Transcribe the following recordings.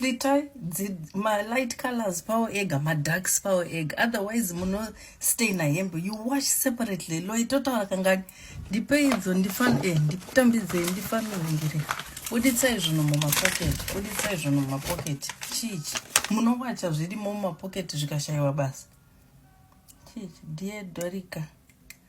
Itai ma light colors pawo ega ma darks pawo ega otherwise muno stay na hembe you wash separately lo itotaura kangani ndipei idzo ndifan eh nditambidzei ndifanirungire buditsai zvinhu mumapocket buditsai zvinhu mumapocket chichi munowacha zvirimo mumapocket zvikashaiwa basa chichi dear dorika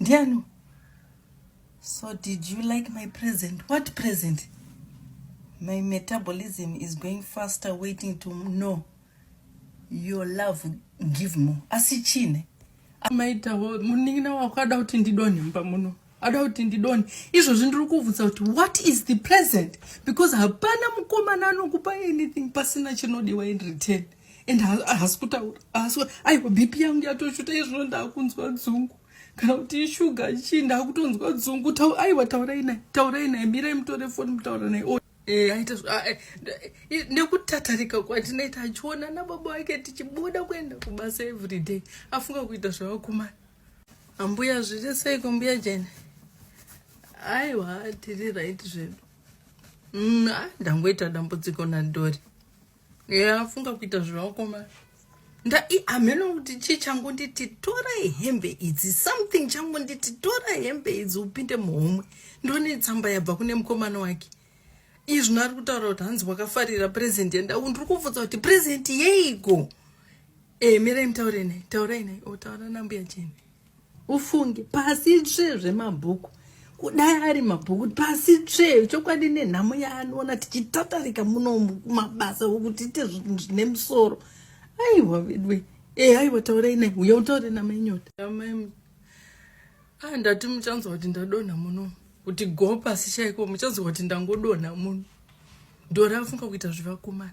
Ndianu? So did you like my present? What present? My metabolism is going faster waiting to know your love give more. Asi chine. Maita munin'ina wako ada kuti ndidonhe mumba muno. Ada kuti ndidonhe. Izvozvi ndiri kuvhunza kuti what is the present? Because hapana mukomana anokupa anything pasina chinodiwa in return. and haasi kutaura haasi aiwa bp yangu yatoshuta izvozvo ndaakunzwa dzungu kana kuti ishuga chii ndaakutonzwa dzungu aiwa taurai naye taurai naye mirai mutore foni mutaura naye oh, eh, aita ah, eh, eh, nekutatarika kwatinoita achiona nababa wake tichibuda kuenda kubasa everyday afunga kuita zvavakumana ambuya zviri seiko mbuya jene aiwa tiri right zvedu mm, ah, ndangoita dambudziko nadori Yeah, funga kuita zvevakoma hameno kuti chii changonditi tora hembe idzi something changonditi tora hembe idzi upinde muhomwe ndone tsamba yabva kune mukomana wake izvi nari kutaura kuti hanzi wakafarira present yenda u ndiri kubvudza kuti present yeiko e eh, mirai mutaure nai taurai nai otaura oh, nambuya cheni ufunge pasi tsve zvemabhuku kudai ari mabhuku pasi tsve chokwadi nenhamo yaanoona tichitatarika muno mabasa okuti ite zvinhu zvine musoro aiwa vedwe e eh, aiwa taurai nai uya utaure namainyoda ah, ndati muchanzwa kuti ndadonha muno kuti go pasi chaiko muchanzwa kuti ndangodonha muno ndorafunga kuita zvevakomana